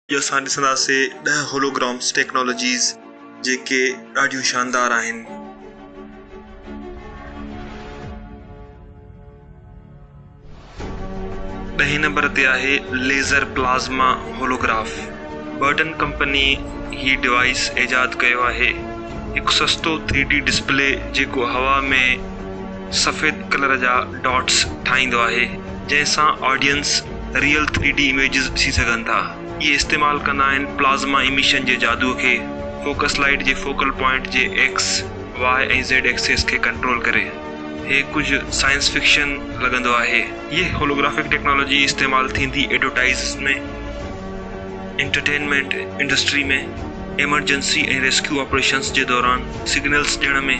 اڄ اسان ڏسنداسي ڏهه هولوگرامس ٽيڪنالاجيز جيڪي ڏاڍيون شاندار آهن. ڏهين نمبر تي آهي laser plasma holograph. Burton company هي ڊوائيس ايجاد ڪيو آهي. هڪ سستو ٿري ڊي ڊسپلي جيڪو هوا ۾ سفيد ڪلر جا ڊاٽس ٺاهيندو آهي جنهن سان audience real three D images ڏسي سگهن ٿا. اهي استعمال ڪندا آهن پلازما ايميشن جي جادوء کي فوڪس لائيٽ جي فوڪل پوائنٽ جي ايڪس، واء ۽ زيڊ ايڪسيس کي ڪنٽرول ڪري. هي ڪجهه سائنس فڪشن لڳندو آهي. هيء هولوگرافڪ ٽيڪنالاجي استعمال ٿيندي advertisers ۾، entertainment industry ۾، emergency ۽ rescue operations جي دوران سگنلز ڏيڻ ۾.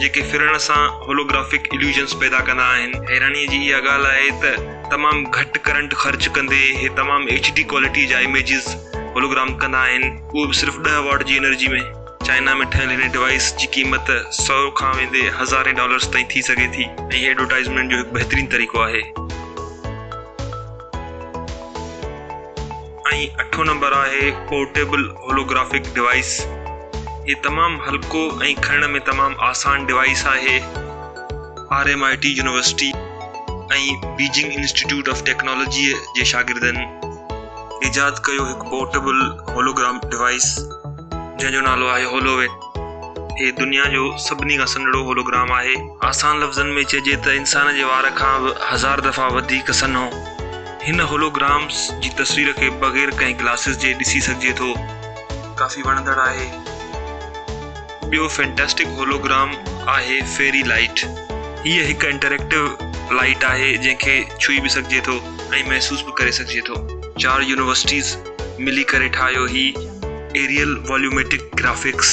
جيڪي ڦرڻ سان هولوگرافڪ اليوشنز پيدا ڪندا آهن. حيرانيء جي اها ڳالهه آهي ته تمام گهٽ ڪرنٽ خرچ ڪندي هي تمام ايڇ ڊي ڪوالٽيء جا اميجز هولوگرام ڪندا آهن، اهو به صرف ڏهه واٽ جي انرجي ۾. چائنا ۾ ٺهيل هن ڊوائيس جي قيمت سؤ کان ويندي هزارين ڊالرز تائين ٿي سگهي ٿي ۽ هي ايڊورٽائيزمينٽ جو هڪ بهترين طريقو آهي. ۽ اٺون نمبر آهي پورٽيبل هولوگرافڪ ڊوائيس هي تمام هلڪو ۽ کڻڻ ۾ تمام آسان ڊوائيس آهي R M I T university ۽ Beijing institute of technology جي شاگردن ايجاد ڪيو هڪ پورٽيبل هولوگرام ڊوائيس جنهن جو نالو آهي هولووين هي دنيا جو سڀني کان سنهڙو هولوگرام آهي آسان لفظن ۾ چئجي ته انسان جي وار کان به هزار دفعا وڌيڪ سنهو هن هولوگرامز جي تصوير کي بغير ڪنهن گلاسز جي ڏسي سگهجي ٿو. ڪافي وڻندڙ آهي. ٻيو فينٽاسٽڪ هولوگرام آهي فيري لائيٽ. هيء هڪ انٽريڪٽو لائيٽ آهي جنهن کي ڇهي به سگهجي ٿو. ۽ محسوس به ڪري سگهجي ٿو. چار يونيورسٽيز ملي ڪري ٺاهيو هي ايريل واليوميٽڪ گرافڪس.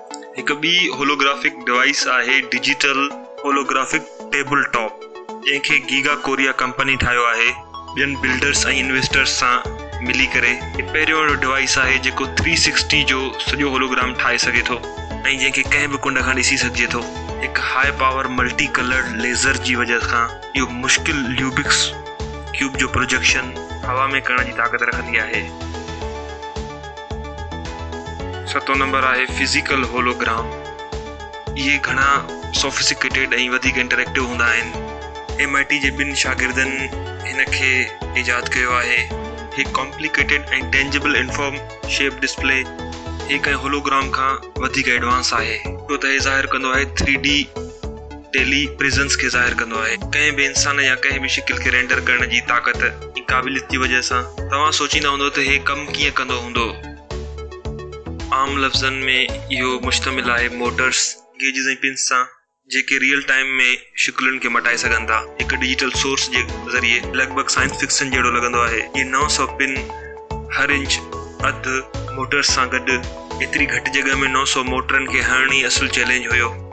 هڪ ٻي هولوگرافڪ ڊوائيس آهي ڊجيٽل هولوگرافڪ ٽيبل ٽاپ، جنهن کي گيگا ڪوريا ڪمپني ٺاهيو آهي. ٻين بلڊرز ۽ انويسٽرز سان ملي ڪري هي پهريون اهڙو ڊوائيس آهي جيڪو ٿري سڪسٽي جو سڄو هولوگرام ٺاهي سگهي ٿو ۽ جنهن کي ڪنهن به ڪنڊ کان ڏسي سگهجي ٿو. هڪ high power multi coloured laser جي وجهه کان اهو مشڪل ليوبڪس ڪيوب جو پروجيڪشن هوا ۾ ڪرڻ جي طاقت رکندي آهي. ستون نمبر آهي فزيڪل هولو گرام اهي گهڻا سوفسيڪيٽيڊ ۽ وڌيڪ انٽريڪٽو هوندا آهن ايم آء ٽي جي ٻن شاگردن هن کي ايجاد ڪيو آهي هي complicated ۽ tangible inform shape display هي ڪنهن هولو گرام کان وڌيڪ ايڊوانس آهي ڇو ته هي ظاهر ڪندو آهي ٿري ڊي ٽيلي پريزنس کي ظاهر ڪندو آهي. ڪنهن به انسان يا ڪنهن به شڪل کي رينڊر ڪرڻ جي طاقت ۽ قابليت جي وجهه سان توهان سوچيندا هوندو ته هي ڪم ڪيئن ڪندو هوندو. عام لفظن ۾ اهو مشتمل آهي موٽرس، گيجز ۽ پنس سان جيڪي ريئل ٽائيم ۾ شڪلن کي مٽائي سگهن ٿا. هڪ ڊجيٽل سورس جي ذريعي لڳ ڀڳ سائنس فڪسن جهڙو لڳندو آهي. اهي نو سؤ پن هر انچ اڌ موٽرس سان گڏ. ايتري گهٽ جڳهه ۾ نو سؤ موٽرن کي هڻڻ ئي اصل چئلينج هيو.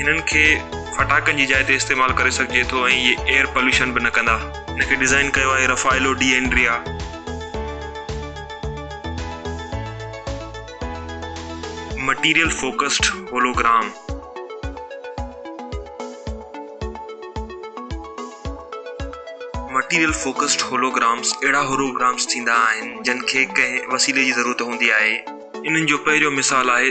هنن کي ڦٽاڪن جي جاء تي استعمال ڪري سگهجي ٿو ۽ اهي ايئر پوليوشن به نه ڪندا. هن کي ڊيزائن ڪيو آهي Raffaello D'Andrea. Material focused hologram. Material focused holograms اهڙا هولوگرامز ٿيندا آهن جن کي ڪنهن وسيلي جي ضرورت هوندي آهي. انهن جو پهريون مثال آهي.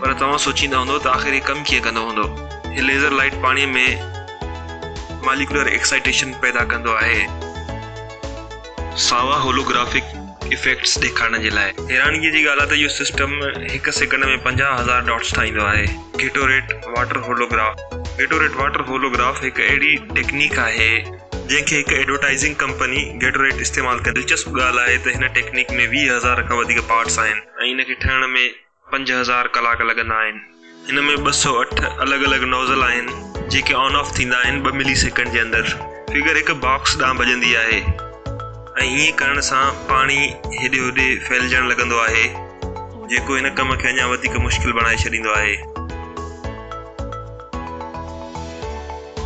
پر توهان سوچيندا هوندؤ ته آخر هي ڪم ڪيئن ڪندو هوندو. هي ليزر لائيٽ پاڻي ۾ ماليڪيولر ايڪسائيٽيشن پيدا ڪندو آهي. ساوا هولوگرافڪ ايفيڪٽس ڏيکارڻ جي لاء. حيرانگيء جي ڳالهه آهي ته اهو سسٽم هڪ سيڪنڊ ۾ پنجاهه هزار ڊاٽس ٺاهيندو آهي. Gatorade water holograph, Gatorade Water Holograph، هڪ اهڙي ٽيڪنيڪ آهي، جنهن کي هڪ ايڊورٽائيزنگ ڪمپني گيٽوريٽ استعمال ڪندي دلچسپ ڳالهه آهي ته هن ٽيڪنيڪ ۾ ويهه هزار کان وڌيڪ پارٽس آهن ۽ ان کي ٺهڻ ۾ پنج هزار ڪلاڪ لڳندا آهن. هن ۾ ٻه سؤ اٺ الڳ الڳ نوزل آهن جيڪي آن آف ٿيندا آهن ٻه ملي سيڪنڊ جي اندر فگر هڪ باڪس ڏانهن ڀڄندي آهي ۽ هيئن ڪرڻ سان پاڻي هيڏي هوڏي ڦهلجڻ لڳندو آهي جيڪو هن ڪم کي اڃا وڌيڪ مشڪل بڻائي ڇڏيندو آهي.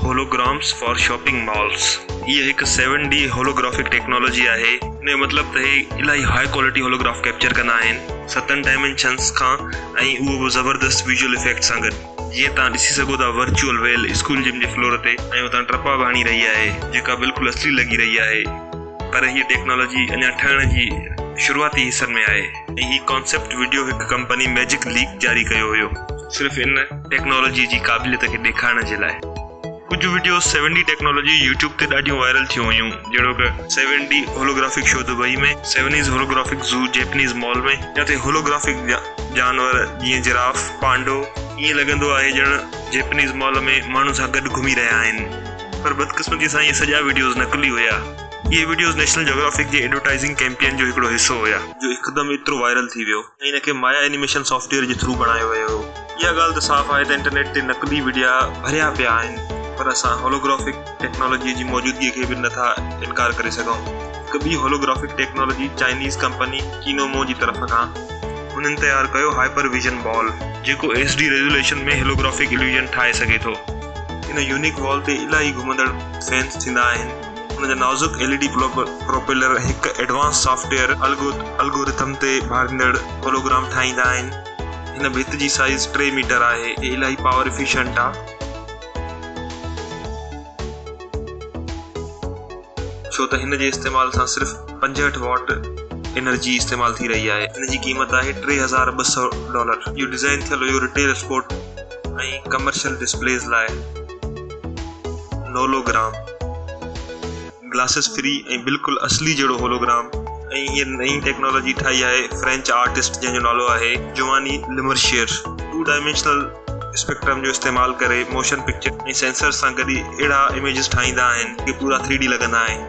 هولوگرامز فار شاپنگ مالز، هيء هڪ سيون ڊي هولوگرافڪ ٽيڪنالاجي آهي، ان جو مطلب ته هي الاهي هاء ڪوالٽي هولوگراف ڪئپچر ڪندا آهن، ستن ڊائمينشنز کان ۽ اهو به زبردست ويزوئل افيڪٽ سان گڏ، جيئن توهان ڏسي سگهو ٿا ورچوئل ويل اسڪول جم جي فلور تي ۽ اتان ٽپا به هڻي رهي آهي، جيڪا بلڪل اصلي لڳي رهي آهي، پر هيء ٽيڪنالاجي اڃا ٺهڻ جي شروعاتي حصن ۾ آهي. ۽ هي ڪانسيپٽ وڊيو هڪ ڪمپني ميجڪ ليڪ جاري ڪيو هيو صرف ان ٽيڪنالاجي جي قابليت کي ڏيکارڻ جي لاء ڪجهه videos seven D technology YouTube تي ڏاڍيون وائرل ٿيون هيون جهڙوڪ seven D holographic show Dubai ۾ سيونيز هولوگرافڪ زو جيپنيز مال ۾ جتي هولوگرافڪ جانور جيئن جراف پانڊو ائين لڳندو آهي ڄڻ جيپنيز مال ۾ ماڻهن سان گڏ گهمي رهيا آهن پر بدقسمتي سان اهي سڄا وڊيوز نقلي هيا. اهي وڊيوز نيشنل جيوگرافڪ جي ايڊورٽائيزنگ ڪيمپين جو هڪڙو حصو هيا، جو هڪدم ايترو وائرل ٿي ويو ۽ ان کي مايا اينيميشن سافٽ ويئر جي ٿرو بڻايو ويو هو. اها ڳالهه ته صاف آهي ته انٽرنيٽ تي نقلي وڊيا ڀريا پيا آهن پر اسان هولوگرافڪ ٽيڪنالاجيء جي موجودگيء کي به نه ٿا انڪار ڪري سگهون. هڪ ٻي holographic technology Chinese company Kinomo جي طرف کان. هنن تيار ڪيو هائپر ويزن بال، جيڪو H D resolution ۾ holographic illusion ٺاهي سگهي ٿو. ان يونيڪ بال تي الائي گهمندڙ فينس ٿيندا آهن. ان جا نازڪ ايل اي ڊي پروپيلر هڪ ايڊوانس سافٽ ويئر الگورٿم تي ڀاڙيندڙ هولوگرام ٺاهيندا آهن. هن ڀت جي سائيز ٽي ميٽر آهي ۽ الاهي پاور افيشنٽ آهي. ڇو ته هن جي استعمال سان صرف پنجهٺ واٽ انرجي استعمال ٿي رهي آهي. هن جي قيمت آهي ٽي هزار ٻه سؤ ڊالر. اهو ڊيزائن ٿيل هيو رٽيل اسپورٽ ۽ ڪمرشل ڊسپليز لاء نولوگرام. گلاسز فري ۽ بلڪل اصلي جهڙو هولوگرام ۽ هيء نئين ٽيڪنالاجي ٺاهي آهي فرينچ آرٽسٽ جنهن جو نالو آهي جواني لمرشير ٽو ڊائمينشنل اسپيڪٽرم جو استعمال ڪري موشن پڪچر ۽ سينسرز سان گڏ اهڙا اميجز ٺاهيندا آهن جيڪي پورا ٿري ڊي لڳندا آهن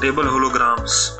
ٽيبل هولوگرامز.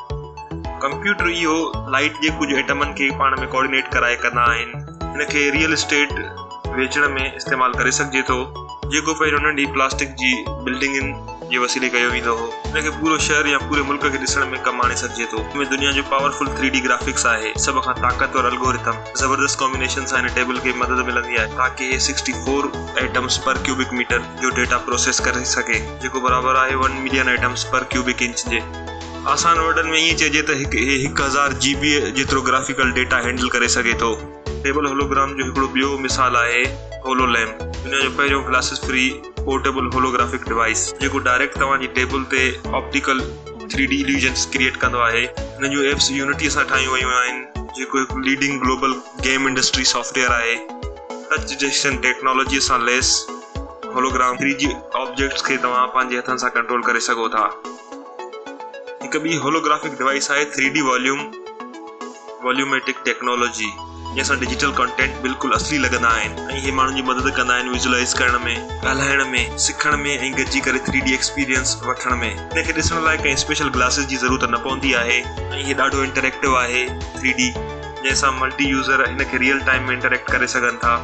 ڪمپيوٽر اهو لائيٽ جي ڪجهه ايٽمن کي پاڻ ۾ ڪوآرڊينيٽ ڪرائي ڪندا آهن هن کي ريئل اسٽيٽ ويچڻ ۾ استعمال ڪري سگهجي ٿو جيڪو پهريون ننڍي پلاسٽڪ جي بلڊنگن جي وسيلي ڪيو ويندو هو هن کي پورو شهر يا پوري ملڪ کي ڏسڻ ۾ ڪم آڻي سگهجي ٿو هن ۾ دنيا جو powerful three D graphics آهي سڀ کان طاقتور الگورٿم زبردست ڪامبينيشن سان هن ٽيبل کي مدد ملندي آهي تاڪه هي sixty four atoms per cubic metre جو ڊيٽا پروسيس ڪري سگهي جيڪو برابر آهي one million atoms per cubic inch جي. آسان ورڊن ۾ ائين چئجي ته هڪ اي هڪ هزار جي بي جيترو گرافيڪل ڊيٽا هينڊل ڪري سگهي ٿو. ٽيبل هولوگرام جو هڪڙو ٻيو مثال آهي هولو ليمپ، دنيا جو پهريون glasses free portable holographic device, جيڪو ڊائريڪٽ توهان جي ٽيبل تي optical three D illusions create ڪندو آهي. هن جون ايپس يونٽي سان ٺاهيون ويون آهن، جيڪو هڪ leading global game industry software آهي. ٽچ ڊٽيڪشن ٽيڪنالاجيء سان ليس هولوگرام ٿري جي آبجيڪٽس کي توهان پنهنجي هٿن سان ڪنٽرول ڪري سگهو ٿا. هڪ ٻي هولوگرافڪ ڊوائيس آهي three D volume volumetric technology جنهن سان ڊجيٽل ڪانٽينٽ بلڪل اصلي لڳندا آهن ۽ هي ماڻهن جي مدد ڪندا آهن ويزولائيز ڪرڻ ۾ ڳالهائڻ ۾ سکڻ ۾ ۽ گڏجي ڪري ٿري ڊي ايڪسپيرينس وٺڻ ۾ هن کي ڏسڻ لاء ڪنهن اسپيشل گلاسز جي ضرورت نه پوندي آهي ۽ هي ڏاڍو انٽريڪٽو آهي ٿري ڊي جنهن سان ملٽي يوزر هن کي ريئل ٽائيم ۾ انٽريڪٽ ڪري سگهن ٿا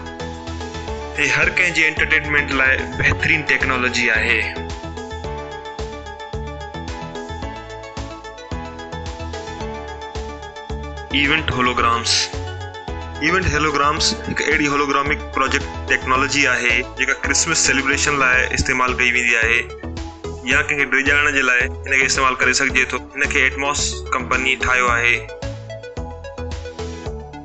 هي هر ڪنهن جي انٽرٽينمينٽ لاء بهترين ٽيڪنالاجي آهي. ايونٽ هولوگرامز، ايونٽ هولوگرامز هڪ اهڙي هولوگرامڪ پروجيڪٽ ٽيڪنالاجي آهي جيڪا ڪرسمس سيليبريشن لاء استعمال ڪئي ويندي آهي يا ڪنهن کي ڊيڄارڻ جي لاء هن کي استعمال ڪري سگهجي ٿو هن کي ايٽماس ڪمپني ٺاهيو آهي.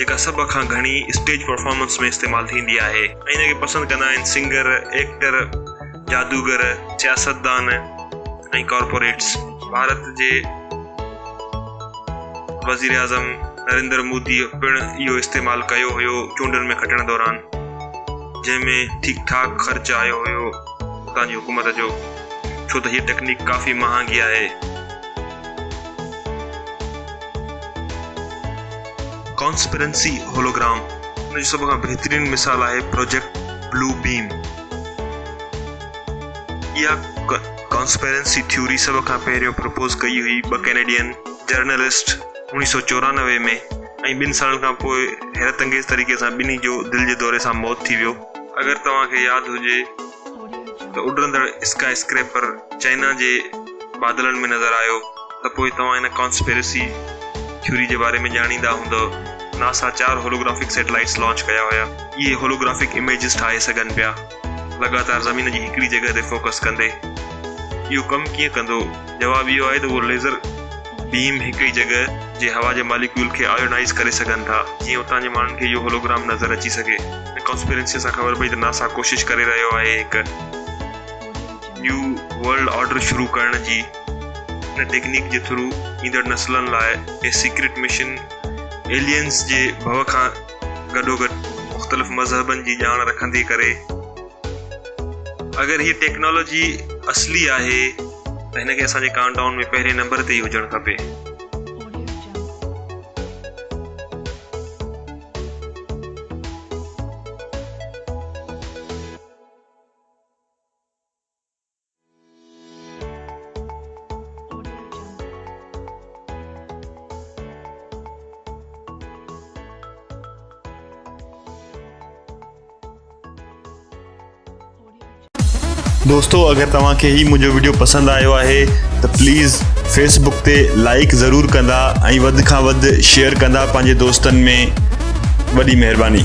جيڪا سڀ کان گهڻي اسٽيج پرفارمنس ۾ استعمال ٿيندي آهي ۽ ان کي پسند ڪندا آهن سنگر، ايڪٽر، جادوگر، سياستدان ۽ ڪارپوريٽس. ڀارت جي وزيراعظم نريندر مودي پڻ اهو استعمال ڪيو هيو چونڊن ۾ کٽڻ دوران جنهن ۾ ٺيڪ ٺاڪ خرچ آيو هيو اتان جي حڪومت جو ڇو ته هيء ٽيڪنيڪ ڪافي مهانگي آهي. ڪانسپرنسي هولوگرام ان جو سڀ کان بهترين مثال آهي پروجيڪٽ بلو بيم. اها ڪانسپرنسي ٿيوري سڀ کان پهريون پروپوز ڪئي هئي ٻه ڪينيڊين جرنلسٽ اڻويهه سؤ چورانوي ۾ ۽ ٻن سالن کان پوء حيرت انگيز طريقي سان ٻنهي جو دل جي دوري سان موت ٿي ويو. اگر توهان کي ياد هجي ته اڏرندڙ اسڪائي اسڪريپر چائنا جي بادلن ۾ نظر آيو ته پوء توهان هن ڪانسپيرسي ٿيوري جي باري ۾ ڄاڻيندا هوندؤ. ناسا چار هولوگرافڪ سيٽلائيٽس لانچ ڪيا هيا. اهي هولوگرافڪ اميجز ٺاهي سگهن پيا، لڳاتار زمين جي هڪڙي جڳهه تي فوڪس ڪندي. اهو ڪم ڪيئن ڪندو؟ جواب اهو آهي ته اهو ليزر بيم هڪڙي جڳهه جي هوا جي ماليڪيول کي آيونائيز ڪري سگهن ٿا، جيئن اتان جي ماڻهن کي اهو هولوگرام نظر اچي سگهي. هن ڪانسپيرنسيء سان خبر پئي ته ناسا ڪوشش ڪري رهيو آهي هڪ. نيو ورلڊ آرڊر شروع ڪرڻ جي ان ٽيڪنيڪ جي ٿرو ايندڙ نسلن لاء هي سيڪريٽ مشن ايلينز جي ڀؤ کان گڏوگڏ مختلف مذهبن جي ڄاڻ رکندي ڪري اگر هي ٽيڪنالاجي اصلي آهي ته هن کي اسان جي ڪائونٽ ڊائون ۾ پهرين نمبر تي ئي هجڻ کپي. دوستو اگر توهان کي هي منهنجو ويڊيو پسند آيو آهي ته پليز فيسبڪ تي لائڪ ضرور ڪندا ۽ وڌ کان وڌ شيئر ڪندا پنهنجي دوستن ۾ وڏي مهرباني